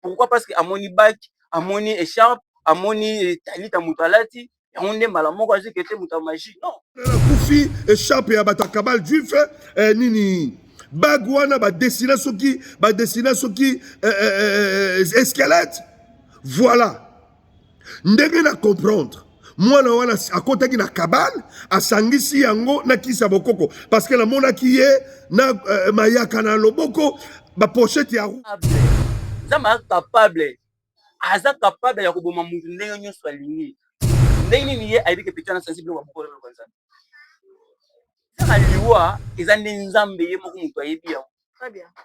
pourquoi parce que amoni bac amoni echarpe amoni talita moto alati yango nde mbala moko azwi kete moto ya magie non kufi echarpe ya bato ya kabal juif eh, nini bague wana badesina soki badesina soki eh, eh, eh, eh, esquelette voilà ndenge na comprendre mwana wana akotaki na kabale asangisi yango na kisi ya bokoko parce que namonaki ye na uh, mayaka na loboko bapochete ya nzambe aza capable aza capable ya koboma motu ndenge nyonso alingi ndenge nini ye ayebi ke peti wana sensible wa mokolo lokola nzambe kaka liwa eza nde nzambe ye moko moto ayebi yango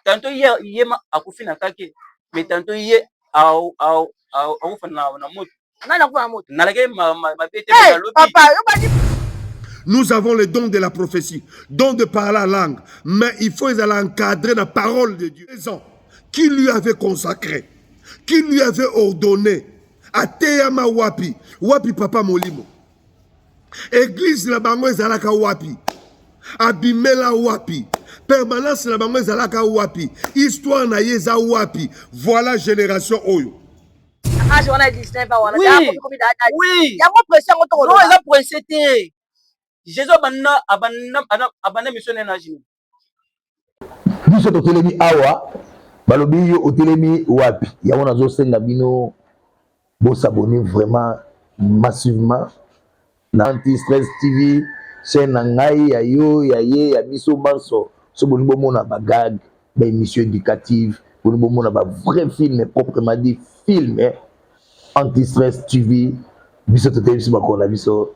tanto ye ye ma akufi na kake mais tanto ye au au au au fana na moto nani akufa na moto nalake ma ma ma bete hey, lobi papa yo bani Nous avons le don de la prophétie, don de parler la langue, mais il faut les encadrer la parole de Dieu. Les gens qui lui avaient consacré, qui lui avaient ordonné, à Teyama Wapi, Wapi Papa Molimo. eglize na bango ezalaka wapi abimela wapi permanence na bango ezalaka wapi histoire na ye eza wapi voilà génération oyo age wana 19 ans wana yango presse yango tokoloba eza presse te jesus abanda abanda abanda mission na age biso totelemi awa balobi yo otelemi wapi yango nazosenga bino bosabone vraiment massivement na anti stress tv chaîne na ngai ya yo ya ye ya biso banso so bolingi bomona bagage ba émission éducative bolingi bomona ba vrai film proprement dit film anti stress tv biso totelemi biso bakolo na biso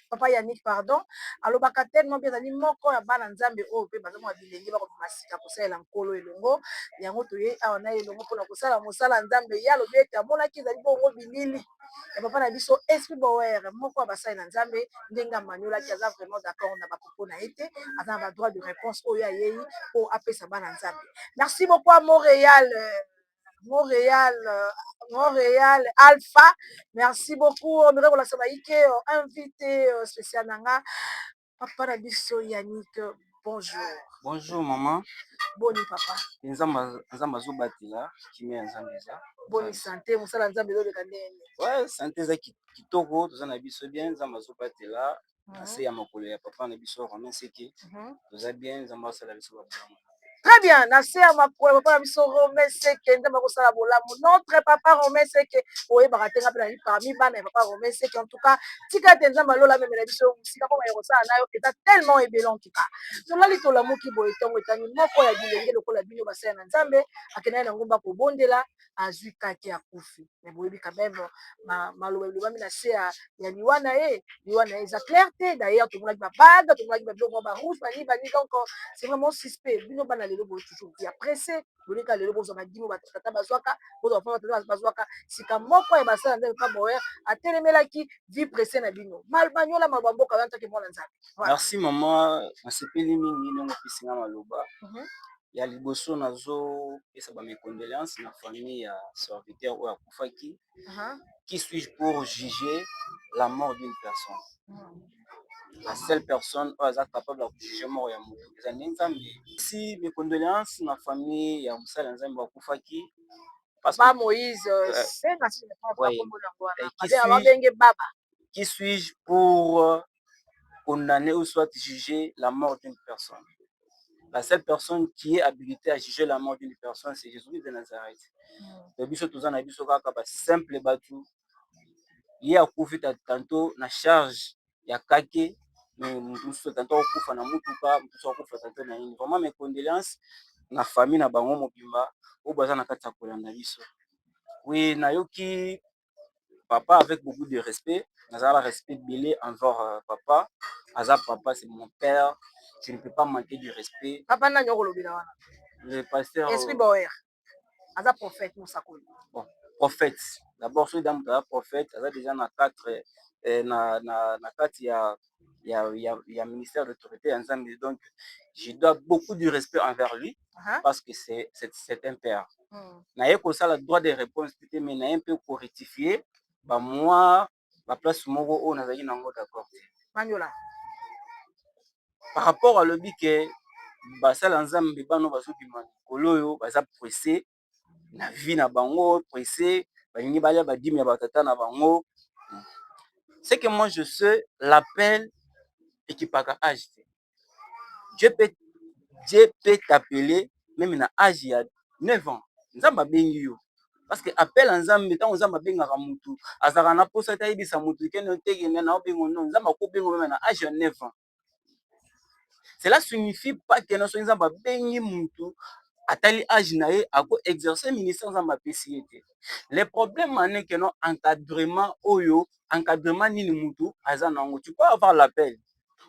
papa yannick pardon alobaka tellement bien azali moko ya bana nzambe oyo mpe bazomona bilenge bakobima sika kosalela nkolo elongo yango toye awa na elongo mpona kosala mosala ya nzambe ye alobi ete amonaki ezali bongo bilili ya papa na biso esprit bower moko ya basali na nzambe ndenge amaniolaki aza vraiment d'accord na bapopo na ye te aza na badroit de réponse oyo ayei mpo apesa bana nzambe merci beaucoup amoreal Montréal, euh, Montréal Alpha. Merci beaucoup. On dirait qu'on l'a sabahé euh, invité euh, spécial nanga. Papa na biso Yannick, euh, bonjour. Bonjour maman. Boni papa. Nzamba nzamba zobatela kimia nzamba eza. Boni santé musala nzamba ezo leka ndenge. Ouais, santé eza ki- kitoko, toza na biso bien, nzamba zobatela na se ya makolo ya papa na biso romain seke mhm. toza bien nzambe asala biso babolamu très bien na se ya makolo papa na biso romain seke nzambe akosala bolamu notre papa romain seke oyebaka te nga mpe nali parmi bana ya papa romain seke en tout cas tika ete nzambe alola amemela biso mosika mpo maye kosala nayo eza tellement ebele en tout cas tolali tolamuki boye ntongo etani moko ya bilenge lokola bino basala na nzambe akendaki na ngomba kobondela azwi kake akufi mais boyebi quand meme maloba elobami na se ya liwa na ye liwa na ye eza claire te d'ailleurs tomonaki ba bague tomonaki ba biloko mwa ba rouge bani bani donc c'est vraiment suspect bino bana lelo boye toujours ya presse bolika lelo bozwa badimo batata bazwaka bozwa mpo batata bazwaka sika moko ya basala ndenge mpa boyer atelemelaki vie presse na bino malbanyola maloba mboka oyantaki mwana nzambe merci mama nasepeli mingi ndenge opesinga maloba ya liboso nazo pesa ba mes condoleances na famille ya serviteur oyo akufaki qui suis je pour juger la mort d'une personne? la seule personne oyo aza capable ya ko juger mort ya mutu eza nde Nzambe. Aussi mes condoleances na famille ya mosali ya Nzambe oyo akufaki parce que qui suis je pour condamne ou soit juge la mort d'une personne. La seule personne qui est habilitée à juger la mort d'une personne, c'est Jésus-Christ de Nazareth. Donc mm. biso toza na biso kaka ba simple batu. Ye akufi tantôt na charge ya kake mais mususu tantôt akufa na mutuka, mususu akufa tantôt na nini. Vraiment mes condoléances na famille na bango mobimba oyo baza na kati ya kolanda biso. Oui, nayoki papa avec beaucoup de respect naza na respect ebele envers papa aza papa c'est mon père je ne peux pas manquer de respect papa nani okolobela wana le pasteur esprit boyer aza prophète mosakoli bon prophète d'abord soki da moto aza prophète aza déjà na 4 eh, na, na, na kati ya ya, ya, ya ministère d'autorité ya nzambe donc je dois beaucoup du respect envers lui uh -huh. parce que c'est c'est un père mm. naye kosala droit de réponse te mais naye mpe korectifie bamwa baplace moko oyo nazalaki na yango d'accord te manyola par rapport alobi ke basala nzambe bano bazobima likolo oyo baza presse na vie na bango presse balingi balia ba dime ya ba tata na bango ce que moi je sais l'appel ekipaka age te Dieu peut Dieu peut t'appeler meme na age ya 9 ans nzambe abengi yo parce que appel ya nzambe ntango nzambe abengaka motu azalaka na mposa te ayebisa motu kene otekene na obengo no nzambe akobenga meme na age ya 9 ans cela signifie pas que soki nzambe abengi mutu atali age na ye ako exercer ministère nzambe apesi ye te le problème en est que non encadrement oyo encadrement nini mutu aza na yango tu peux avoir l'appel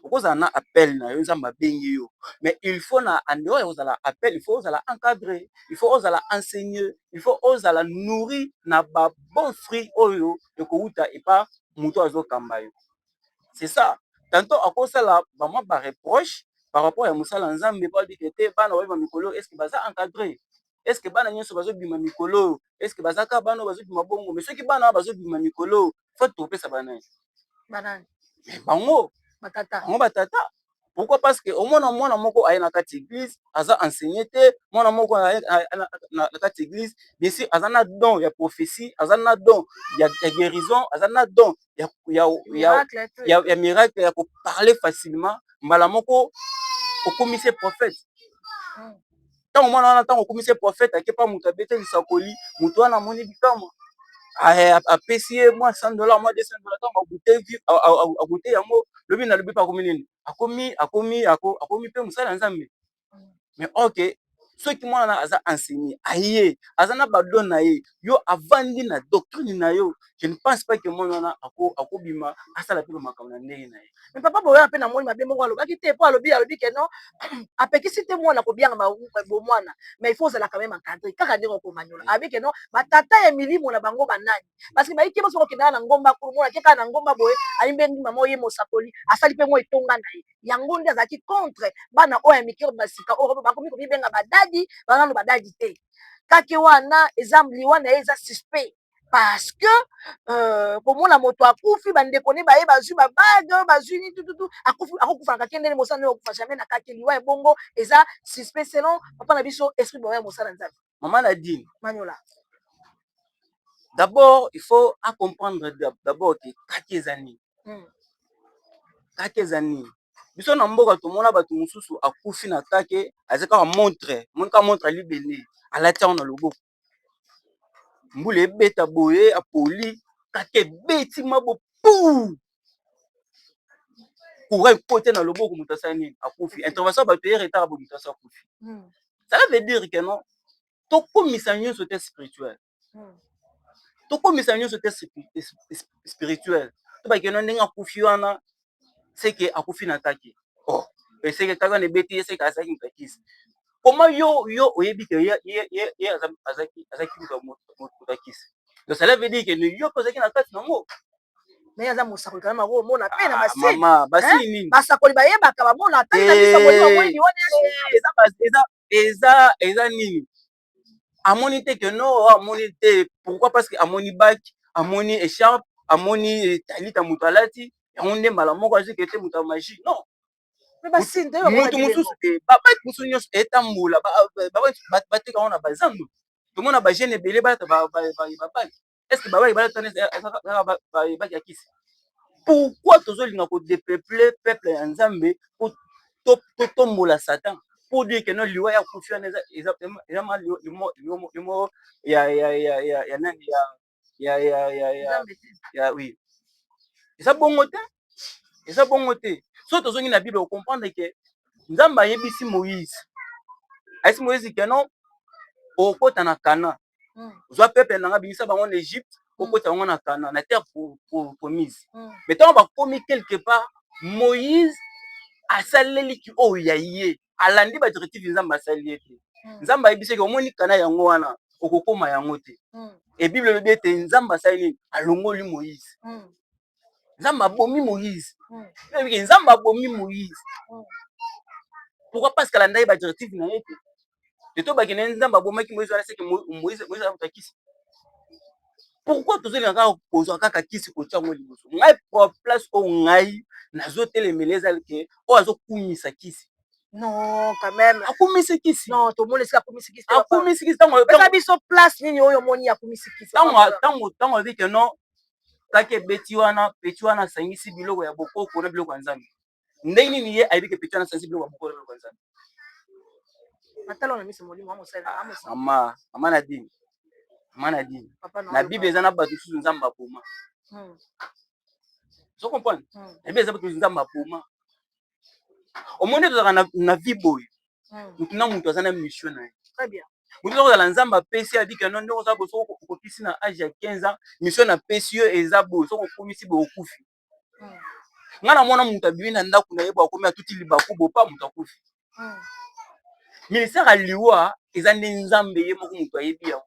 okozala na appel na yo nzambe abengi yo mais il faut na en dehors ya kozala appel il faut ozala encadré il faut ozala enseigné il faut ozala nourri na ba bon fruit oyo ekowuta epa moto azokamba yo c'est ça tanto akosala vraiment ba reproche par rapport ya mosala nzambe po abike te bana babima mikolo est ce que baza encadre est ce que bana nyonso bazobima mikolo est ce que baza ka bana bazobima bongo mais soki bana bazobima mikolo fati tokopesa bana banani bango batata bango batata pourquoi parce que omona mwana moko aye na kati église aza enseigné te mwana moko na kati église bisi aza na don ya prophétie aza na don ya, ya guérison aza na don ya, ya, ya, ya, ya miracle ya koparle facilement mbala moko okomisi prophète ntango mwana wana ntango okomi se profete ake mpa moto abete lisakoli moto wana amoni bikamwa apesi ye mwa 100 dola mwa 200 dola ntango agute yango lobi na lobi mpe akomi nini akomi akomi akomi mpe mosala ya nzambe mais oke soki mwana aza enseigné aye aza na badon na ye yo avandi na doctrine na yo je ne pense pas que mwana wana akobima asala mpe bamakambo na ndenge na ye me papa boya mpe na moni mabe moko alobaki te mpo alobi alobi ke non apekisi te mwana kobianga bomwana mais il faut ozalaka meme encadre kaka ndenge okomanyola abi ke non batata ya milimo na bango banani parce que bayike baso kokendaka na ngomba kolo mwana te kaka na ngomba boye ayimbe ndima moko ye mosakoli asali mpe mwa etonga na ye yango nde azalaki contre bana oyo ya mike oyo basika oyo bakomi komibenga badadi banano badadi te kake wana eza liwa na ye eza suspect parce que euh, komona moto akufi bandeko ne baye bazwi babage bazwi nini tututu akufi akokufana kake ndene mosala nde okokufa jamais na kake liwa ebongo eza suspect selon papa na biso esprit boya mosala nzambe Maman Nadine. Maniola. D'abord, il faut à comprendre d'abord que kaki eza nini. Mm. Kaki eza nini. Biso na mboka tomona bato mosusu akufi na kake aza kaka montre, moni kaka montre ya libende alati yango na loboko. Mbula ebeta boye apoli kake ebeti mabo puu courant ekote na loboko moto asala nini akufi intervention ya bato eye retard ya moto asi akufi hmm. cela veut dire que non tokomisa nyonso te spirituel hmm. tokomisa nyonso te spirituel tobake no ndenge akufi wana seke akufi na kake oh eseke kaka wana ebeti ye seke azalaki mokakisi koma yo yo oyebi ke ye azaki moto akisi donc cela veut dire que yo mpe ozalaki na kati nango naye aza mosakoli kana mako omona pe na ah, basini basakoli bayebaka bamona atali na biso moni bamweni wana eza eza nini amoni te ke no oh, amoni te pourquoi parce que amoni bak amoni echarpe amoni eh, talita moto alati yango nde mbala moko azwi kete moto ya magie non moto mosusu te babaki mosusu nyonso etambola bateka yango na bazando tomona bagene ebele balata babaki est ce que babaki balatana ebaki ya kisi pourquoi tozolinga kodepeple peuple ya nzambe po totombola satan pour dire que non liwa ya kufi wana eza vraiment limo ya nani ya oui eza bongo te eza bongo te so tozongi na bible okomprendre ke nzambe ayebisi moïse ayebisi moïse ke non okota na canaan mm. zwa peuple na nga bimisa bango na Egypte mm. okota bango na Kana na terre promise mm. mais ntango bakomi quelque part Moïse asaleli ki oyo ya ye alandi ba directive Nzambe asali ye te mm. Nzambe ayebisi ke omoni Kana yango wana okokoma yango te mm. et Bible elobi ete Nzambe asali nini alongoli Moïse mm. nzambe abomi moïse nayebike hmm. nzambe abomi moïse hmm. pourquoi parce que alandaki badirective na ye te eto bakende nzambe abomaki moïse wana seke moïse akuta kisi pourquoi tozolinga kaka kozwa kaka kisi kotya yango liboso ngai place oyo ngai nazotelemela eza ke oyo azokumisa kisi non quand même akumisi kisi non tomoni esika akumisi kisi akumisi kisi ntango biso place nini oyo omoni akumisi kisi ntango ntango ntango abi ke non kake ebeti wana peti wana asangisi biloko ya bokoko na biloko ya nzambe ndenge nini ye ayebi ke peti wana asangisi biloko ya bokoko na biloko ya nzambe mama mama na dini mama na dini na bible eza na bato mosusu nzambe aboma hmm. ozo comprendre hmm. na bible eza bato nzambe aboma omoni tozalaka na, na vie boye hmm. motu na motu aza na mission na ye motu oza kozala nzambe apesi adika no ndenge oza boso okokisi na age ya 15 ans mission na pesi yo eza boye soki okomisi boye okufi hmm. ngai na mwana moto abimi na ndako na ye bo akomi atuti libaku bopa moto akufi hmm. ministère ya liwa eza nde nzambe ye moko moto ayebi yango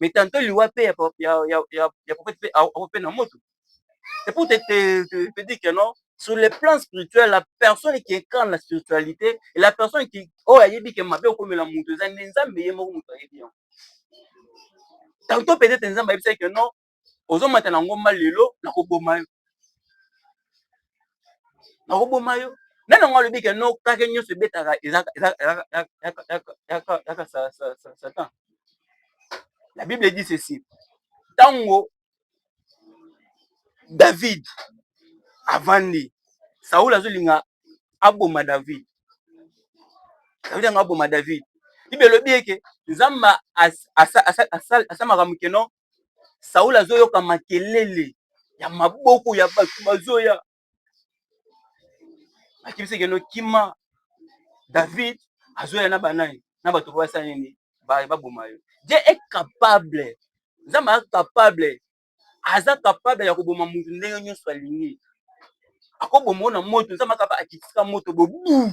mais tantôt liwa pe ya ya ya ya, ya prophète pe au pe na moto c'est pour te, te, te, te dire que non sur le plan spirituel la personne qui incarne la spiritualité et la personne qui oyo ayebi ke mabe okomela moto eza nde nzambe ye moko moto ayebi yango tantôt peut-être nzambe ayebisaki que non ozomata na ngomba lelo nakoboma yo nakoboma yo nani yango alobi ke no kake nyonso ebetaka ezaka satan la bible edi ceci ntango david avandi saul azolinga aboma david david yango aboma david bible elobi eke nzambe asalaka mokeno Saul azoyoka makelele ya maboko ya bato bazoya akebisi ekeno kima David azoya na banani na bato po basala nini baboma yo je e capable nzambe aza capable aza capable ya koboma moto ndenge nyonso alingi akoboma yo na moto nzambe akaba akitisika moto bobu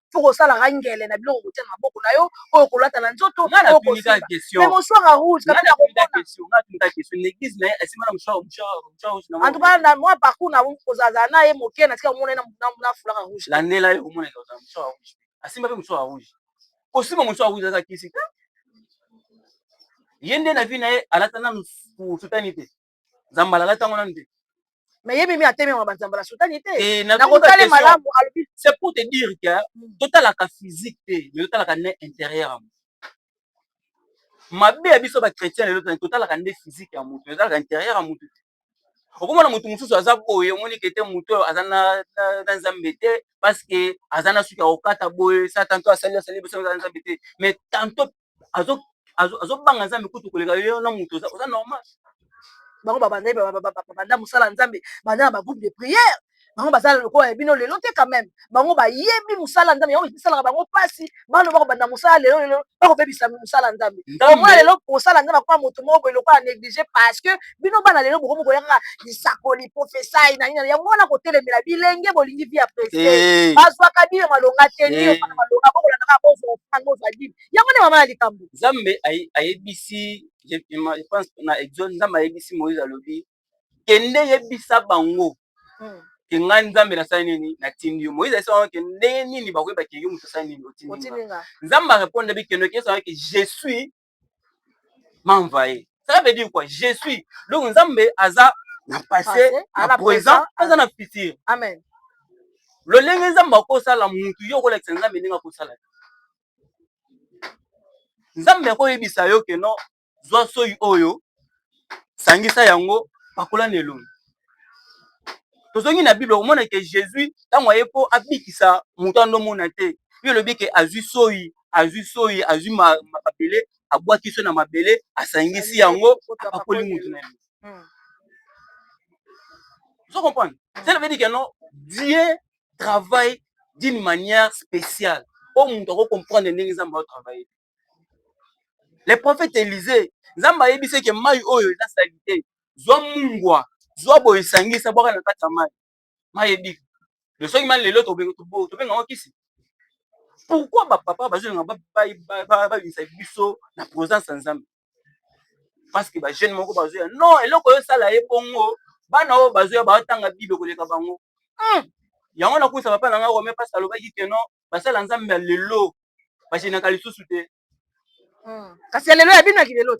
mpo kosalaka ngele na biloko kotia na maboko na yo oyo kolata na nzoto mosuaka rouge antuka na mwa parcour na kozalazala na ye moke na tika komona ye na fulaka rouge landela ye komona asimba mpe mosuaka rouge kosimba mosuaka rouge aza kisi ye nde na vi na ye alata nanu sutani te nzambala alati yango nanu te mais ye mimi atelemaka banzambala sutani te eh, na kotale malamu alobi c'est pour te dire que hmm. totalaka physique te mais totalaka ne intérieur ya moto mabe ya biso bachrétien lelo tani totalaka nde physique ya moto totalaka intérieur ya moto te okomona moto mosusu aza boye omoni kete moto oyo aza na nzambe te parceke aza na suki ya kokata boye sa tanto asali asali biso aza na nzambe te mais tanto azo azo azo banga nzambe kutu koleka yo na mutu oza oza normal bango babanda babanda mosala ya nzambe banda na bagroupe de prière bango bazala lokola ya bino lelo te quand même bango bayebi mosala nzambe yango esalaka bango mpasi bano bakobanda mosala lelo lelo bakobebisa mosala nzambe omona lelo kosala nzambe akoma moto moko boye lokola néglige parce que bino bana lelo bokomi koya kaka lisakoli profesai na nini yango wana kotelemela bilenge bolingi vi ya prese eh. bazwaka bino malonga te ni eh. ofana malonga bokolanda kaka bozwa ofana bozwa dini yango nde mama ya likambo nzambe ayebisi je pense na exode nzambe ayebisi moïse alobi kende yebisa bango hmm. ke ngai nzambe nasali nini natindi yo moïse ayebisa bango ke ndenge nini bakoyeba ke yo moto asali nini otindi nzambe arepondre bi kende okeyesa bango ke je suis m'envahir. Cela veut dire quoi? Je suis. Donc Nzambe aza na passé, na présent, aza na futur. Amen. lolenge nzambe akosala mutu yo okolakisa nzambe ndenge akosala nzambe akoyebisa yo ke no zwa soyi oyo sangisa yango pakola na elongi tozongi na bible okomona ke jesus ntango aye mpo abikisa moto wana omona te yo elobi ke azwi soyi azwi soyi azwi mabele abwaki so na mabele asangisi yango apakoli moto na yango hmm. ozo comprendre cela veut dire que non dieu travaille d'une manière spéciale oyo moto akocomprendre ndenge nzambe aotravaille te le prophète Elise nzambe ayebisi ke mai oyo eza salite zwa mungwa zwa boye sangisa bwaka na kati ya mai mai ebika de soki mai lelo tobenga ngo kisi pourquoi bapapa bazolinga babimisa biso na présence ya nzambe parce que bajeune moko bazoya non eloko oyo esala ye bongo bana oyo bazoya baotanga bible koleka bango hmm. yango nakuisa papa na ngai rome mpasi alobaki ke non basala nzambe ya lelo bajenaka lisusu te hmm. kasi ya lelo ya bino ya kilelo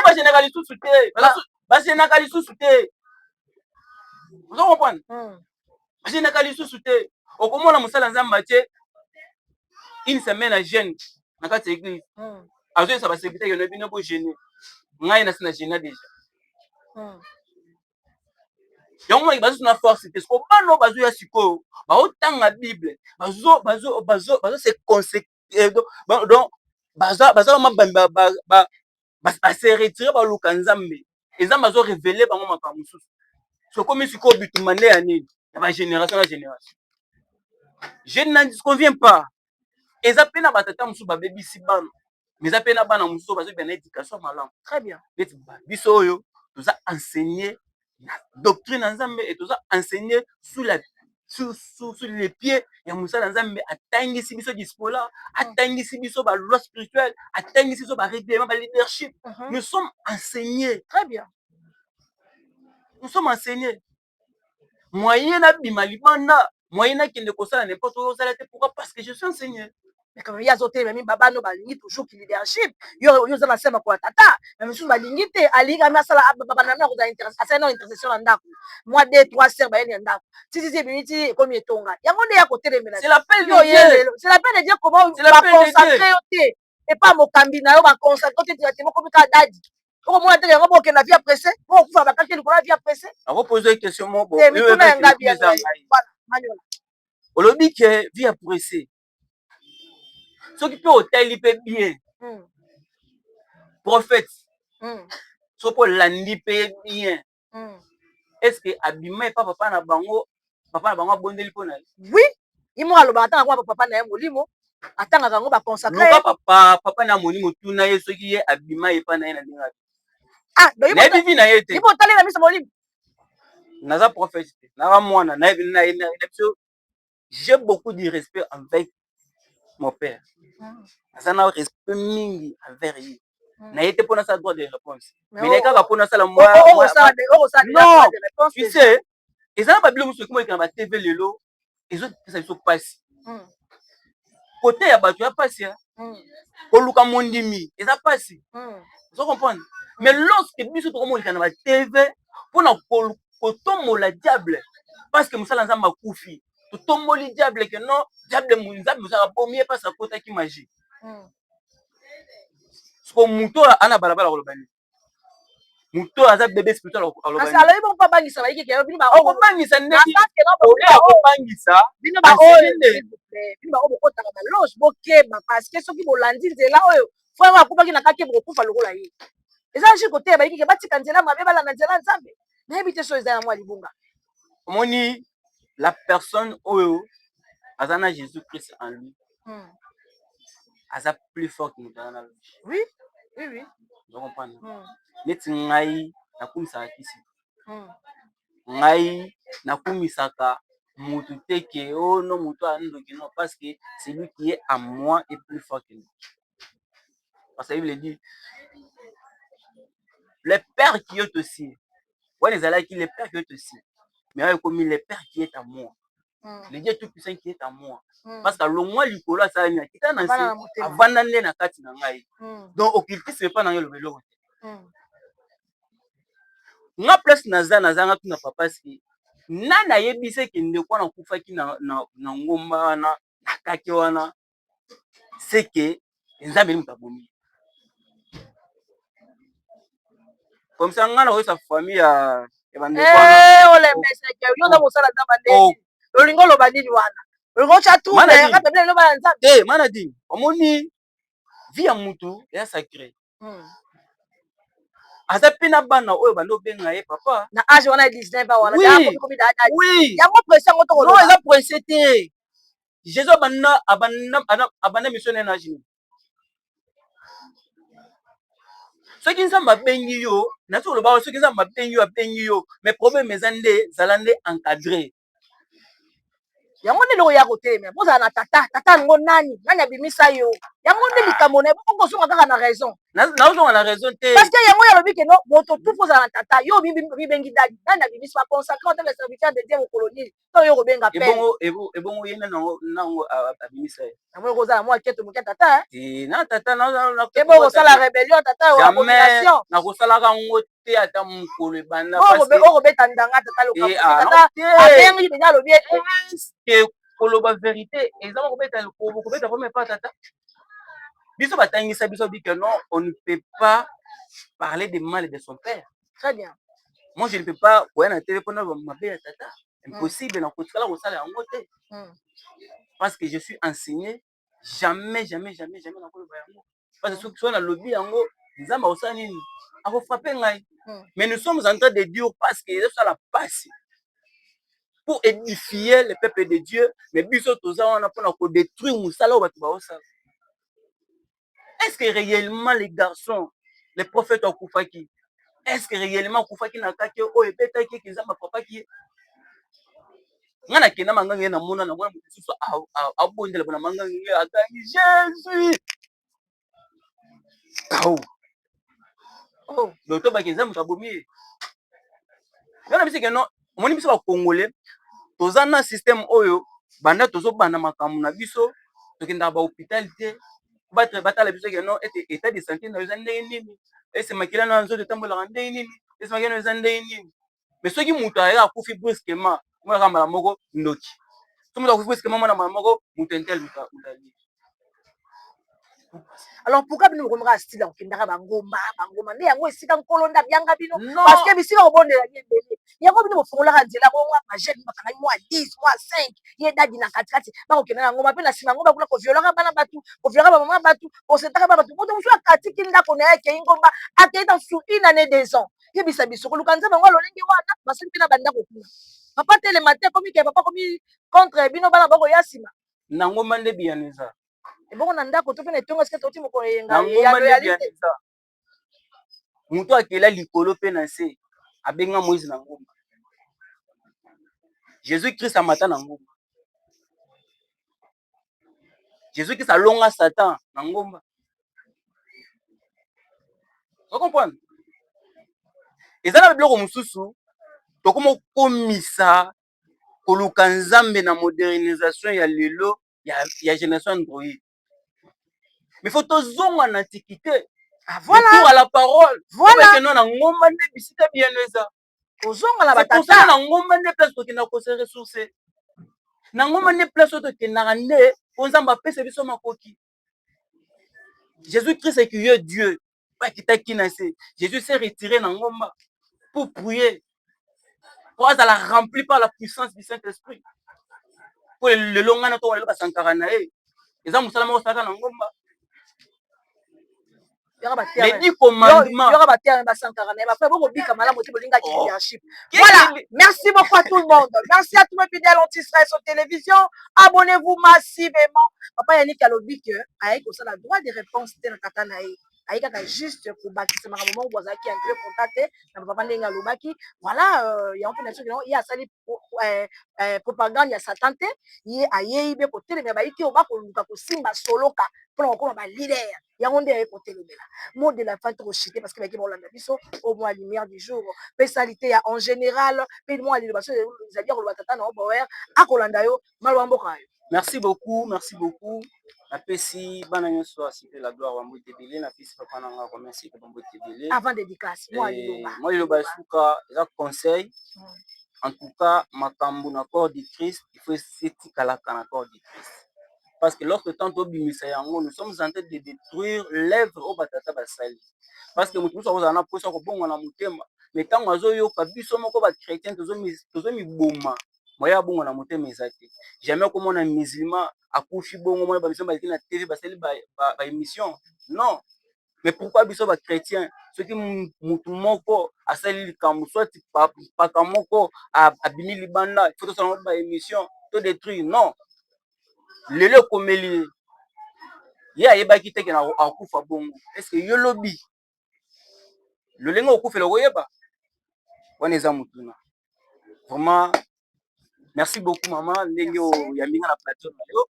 bajenaka lisusu te bajenaka lisusu te ozo comprendre hmm. bajenaka lisusu te okomona mosala nzambe atie une semaine ya jeune na kati ya église hmm. azoyesa basekitaki na bino bogene ngai nasi na gena deja yango maki bazosu na force te soko bana oyo bazoya sikoyo baotanga bible bazo bazo bazo bazo se conseque eh, donc baza baza ba base retire baluka nzambe nzambe azo revele bango makambo mosusu sokomi sikoyo bitumba nde ya nini ya bagénération na génération je ne convient pas eza mpe na batata mosusu babebisi bana mais eza mpe na bana mosusu bazobima na éducation malamu très bien neti biso oyo toza enseigné na doctrine ya nzambe e toza enseigné sous la sous, sous, sous les pieds ya mosala ya nzambe atangisi biso dispola atangisi biso baloi spirituelle atangisi biso barèglement baleadership mhm. nous sommes enseigné très bien nous sommes enseigné moyen na bima libanda moyen na kende kosala n'importe quoi osala te pourquoi parce que je suis un seigneur mais quand ya zo tele mi baba no balingi toujours ki leadership yo yo za basi ba ko tata mais monsieur balingi te alinga na sala baba na ko za interesse asala na interesse na ndako moi des trois sœurs ba yeni ndako si si si bimi ti comme etonga yango ne ya ko tele mais c'est la peine yo ye c'est la peine de dire comment ba consacrer yo te et pas mokambi na yo ba consacrer te ti ba te mokomi ka dadi okomona te yango bokende na vie ya presse po okufa bakaki likolo ya vie ya presse akopoze question moko eh, mituna ya ngabi ya manyola olobi ke vie ya presse soki mpe otali mpe bien hmm. prophète hmm. soki olandi mpe bien hmm. est ce que abima epa papa na bango papa na bango abondeli mpo na ye oui imo alobaka ata nakuwa papa na ye molimo atangaka yango baconsacre papa papa na molimo tuna ye soki ye abima epa na ye na ndenge ah, nayebi vi na ye te ipo otalela miso molimo naza prophète te naza mwana nayebi na ye na biso j'ai beaucoup du respect avec mon père aza na respect mingi envers ye hmm. na ye te mpona asala droit de réponse mais naye kaka mpona asala non tu sais eza na babilo mosusu ekomi oleka na batv lelo ezopesa biso mpasi hmm. kote ya bato ya pasi hein. mm. koluka mondimi eza pasi mm. ozo comprendre mais lorsque biso tokomonika na ba tv mpona kotombola diable parce que mosala nzambe akufi totomboli diable ke non diable nzambe mosala bomi ye mpasi akotaki magie mm. siko moto oyo ana balabala koloba nini moto oyo aza bebe spirituel alobi bongo mpo abangisa bayike ke bino okobangisa ndenge oyo akobangisa bino baoyo bino baoyo bokotaka baloge bokeba parce que soki bolandi nzela oyo frère akubaki na kake bokokufa lokola ye eza jus koteya bayike ke batika nzela mabe balanda nzela nzambe nayebi te so eza yango ya libunga omoni la personne oyo aza na jésus christ en lui hmm. aza plus fort que moto aza na lobi oui oui oui ozo comprendre hmm. neti ngai nakumisaka kisi hmm. ngai nakumisaka motu te ke o oh, no motu andoki no parce que celui qui est à moi est plus fort que moi Parce que la Bible dit, le Père qui est aussi, wana ezalaki le Père qui est aussi, mais ayo ekomi le Père qui est à moi. Mm. Le Dieu Tout-Puissant qui est à moi. Mm. Parce que longwa likolo asala nini akita na nse avanda nde na kati na ngai. Mm. Donc occultisme epa na yo eloba eloko te. Mm. Nga place naza nazanga tuna papa ski nani ayebisaki ndeko wana akufaki na, na, na ngomba wana na kake wana c'est que nzambe nde moto abomi ye comme ça nga nakoyesa famille ya ya bandeko wana Eh, olembeseke yo oza kosala nzambe nde Oh. olingi oloba nini wana olingi otya Mana trouble nini? kaka bino eloba ya nzambe te manadine omoni vie ya moto eza sacré Hmm. aza mpe na bana oyo bando obenga ye papa na age wana ya 19 ans wana Oui. yango komi da da oui yango presi yango non tokoloba eza prince te jesus abanda abanda ana- abanda misio naye na jini soki nzambe abengi yo nazo koloba oyo, soki nzambe abengi yo abengi yo mais problème eza nde zala nde encadré yango nde eloko ya kotelemela bozala na tata tata yango nani nani abimisa yo yango nde likambo na okozonga kaka na raison naozonga na raison te parce que yango yalobi ke no moto tupu ozala na tata yo obibengi dadi nani abimisa baconsacre ata le serviteur de dieu mokolo nini to yo kobenga pe ebongo ye nango abimisa ye yango ekozala mwa keto moke tata eh? na tata ebokosala rebellion tata abomination nakosalaka yango te ata mokolo ebanda okobeta ndanga tata lokabengi eh, ah, mpenza alobi ete eh, koloba verite eza bakobeta lokobo kobeta vraimen pa tata biso batangisa biso bike non on ne peut pas parler de mal de son père très bien moi je ne peux pas koya na tv mpona mabe ya tata impossible nakotikala kosala yango te hmm. parce que je suis enseigné jamais jamais jamais jamais nakoloba yango parce que soki soki nalobi yango nzambe akosala nini akofrape ngai hmm. mais nous sommes en train de dire parce que ezosala pasi pour édifier le peuple de dieu mais biso toza wana mpona kodétruire mosala oyo bato baosala est ce que réellement les garçons le prophète akufaki est ce que réellement akufaki na kake oyo ebetaki eke nzambe afrapaki ye nga na kenda manganga ye na mona na mwana mosusu abondela bona manganga ye akangi jesus kao oh doto baki eza moto abomi ye nga na biso ke non omoni biso bakongole toza na systeme oyo banda tozobanda makambo na biso tokendaka bahopital te batala biso ke non ete etat de santé na yo eza ndenge nini ese makila na nzoto etambolaka ndenge nini ese makila na yo eza ndenge nini me soki moto ayaka akufi brusquement omonaka mbala moko ndoki soki moto akufi brusquement omona mbala moko moto intel moto alie alors pourquoi bino bokomaka style ya kokendaka bangomba bangomba nde yango esika nkolo nde abyanga bino parce que bisika kobondela ye ebele yango bino bofungolaka nzela bongo bajene bakangaki mwa 10 mwa 5 ye dadi na katikati bakokenda na ngomba mpe na nsima ngomba kuna koviolaka bana bato koviolaka bamama bato kosetaka bana bato moto mosusu akatikili ndako na ye akei ngomba akei na sur une année des ans yebisa biso koluka nzambe yango ya lolenge wana basali mpe na bandako kuna papa telema te komi ke papa komi contre bino bana bakoya nsima na ngomba nde biyano eza ebongo na ndako to mpe na etonga sika toti mokolo eyenga moto akela likolo mpe na nse abenga moise na ngomba jesus christ amata na ngomba Jesus Christ alonga Satan na ngomba. Vous comprenez? eza na biloko mosusu tokoma kokomisa koluka nzambe na modernisation ya lelo ya, ya génération android mais faut tozonga na antiquité ah, voilà. à la parole voilà. na ngomba nde bisika biyano eza kozonga na batata na ngomba nde place tokenda ko se ressourcer na ngomba nde place oyo tokendaka nde mpo nzambe apesa biso makoki jésus christ qui est dieu akitaki na se jésus se retire na ngomba pour prier mpo azala rempli par la puissance du saint esprit mpo lelo ngai na toka lelo basankara na ye eza mosala moko osalaka na ngomba mais dit commandement yora ba terre ba sankara mais après boko bika malamu te bolinga ki oh. leadership voilà merci beaucoup à tout le monde merci à tous mes fidèles anti stress aux télévision abonnez-vous massivement papa Yannick alobi que ayi ko sala droit de réponse te na tata na ye ayi kaka juste ko bakisa makambo moko bozalaki un peu contact te na papa ndenge alobaki voilà euh, yango mpe na soki nango ye asali euh, euh, propagande ya satan te ye ayei be kotelemela bayi te oba koluka kosimba soloka mpona kokoma ba leader yango nde aye kotelomela mot de la fin toko chite parce que bayaki baolanda biso au moins lumière du jour pe salite ya en general pe mua liloba soki ezali ya koloba tata na yo boyer akolanda yo maloba mboka na yo merci beaucoup merci beaucoup napesi bana nyonso ya cite la gloire ba mbote ebele napesi papa na nga remercie pe ba mbote ebele avant dédicace mua liloba moi liloba ya suka eza conseil en tout cas makambo na corps du christ il faut esetikalaka na corps du christ parce que lorsque temps tobimisa yango nous sommes en train de détruire l'œuvre oyo batata basali parce que moto mosusu akozala na mposa kobonga na motema mais ntango azoyoka biso moko bachrétien tozomiboma moye abonga na motema eza te jamais akomona musulman akufi bongo mona bamiso baleki na tv basali baémission non mais pourquoi biso ba chretien soki mutu moko asali likambo soit mpaka moko abimi libanda faut tosala ngo ba emission to detruire non lelo ekomeli ye ye ayebaki te kena akufa bongo est-ce que yo lobi lolenge okufela okoyeba wana eza motuna vraiment merci beaucoup mama ndenge oyambi nga na plateau na yo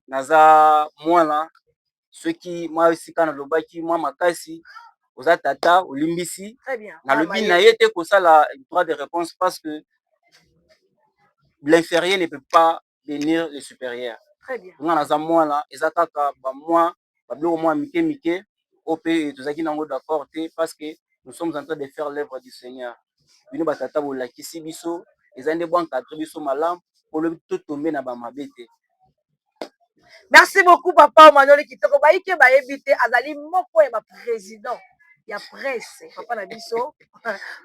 naza mwana soki mwa esika nalobaki mwa makasi oza tata olimbisi nalobi na ye te kosala droit de reponse parce que l'inferieur ne peut pas benir le superieur nga naza mwana eza kaka ba mwa ba biloko mua mike mike oyo pe tozalaki nango d'accord te parce que nous sommes en train de faire l'oeuvre du seigneur bino ba tata bolakisi biso eza nde bo encadre biso malamu po lobi to tomber na ba mabe te. Merci beaucoup papa Omanoli kitoko baike bayebi te azali moko ya ba president ya presse papa na biso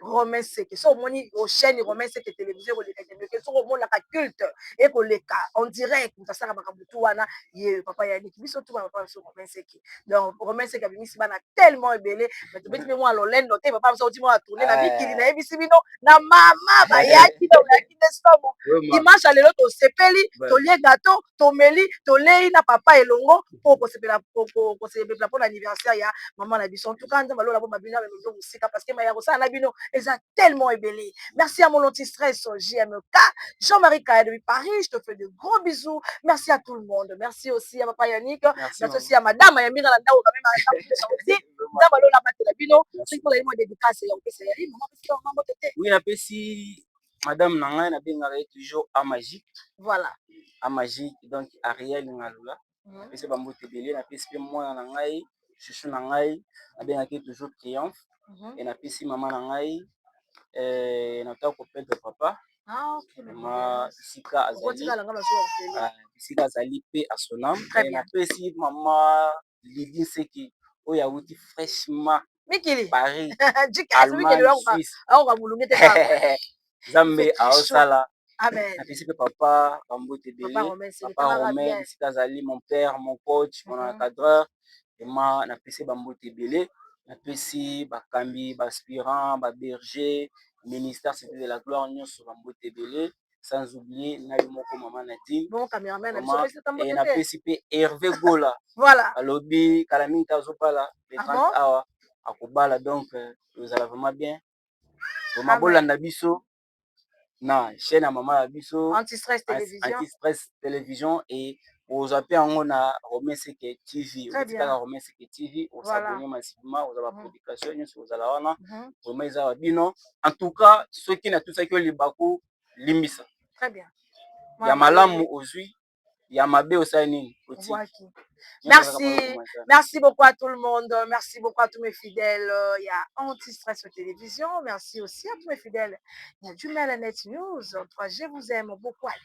romain seke so omoni ochaine romain seke television ekoleka kendeke soki omonaka culte ekoleka en direct moto asala makambo tu wana ye papa yaniki biso tuma papa biso romain seke donc romain seke abimisi bana tellement ebele mais tobeti mpe mwa lolendo te papa biso oti mwa tourne na mikili nayebisi bino na mama bayaki donc bayaki nde somo dimanche ya lelo tosepeli tolie gato tomeli tolei na papa elongo po kosepela kosepela pona anniversaire ya mama na biso en tout cas nzambe alola bomabino ya lolendo mosika parce que maye ya kosala na bino eza tellement ebele merci ya mon anti stress jmk jean marie kaya depuis paris je te fais de gros bisous merci à tout le monde merci aussi ya papa yannick merci aussi ya madame ya mbinga na ndako quand même nzambe alola batela bino soki mpo na ye mwa dedicace ya kopesa ya ye mama pesi mama mbote te oui napesi madame na ngai na bengaka ye toujours a magique voilà a magique donc ariel ngalula mhm. apesi mm -hmm. bambote ebele napesi mpe mwana na ngai chuchu na ngai nabengaki ye toujours triomphe mm -hmm. e napesi mama na ngai eh, nataka kopedre papa ah, okay, ma bisika azali ah, bisika azali mpe asonam eh, napesi mama Lydie Seki oyo awuti fraîchement mikili Paris Allemagne Suisse Nzambe aosala napesi mpe papa bambote ebele papa romain esika azali mon père mon coach mon mhm. encadreur ema napesi bambote ebele napesi bakambi baaspirant baberger ministère cité de la gloire nyonso bambote ebele sans oublier na yo moko mama Nadine et na pesi pe Hervé Gola voilà alobi kala mingi te azobala le 30 ah awa akobala donc euh, tozala vraiment bien vraiment bolanda biso na chaîne ya mama ya biso anti-stress télévision, anti -stress télévision et okozwa pe yango na Rome Seke TV. Okoti kaka Rome Seke TV, o s'abonner massivement, okozwa ba publications nionso ekozala wana. Vraiment eza ya bino. En tout cas, soki natusaki yo libaku, limbisa. Très bien. Ya malamu ozwi, ya mabe osali nini? Otiki. Merci, merci beaucoup à tout le monde. Merci beaucoup à tous mes fidèles. Il y a Anti-Stress Télévision. Merci aussi à tous mes fidèles. Il y a du Melanet News. 3G vous aime beaucoup. Allez.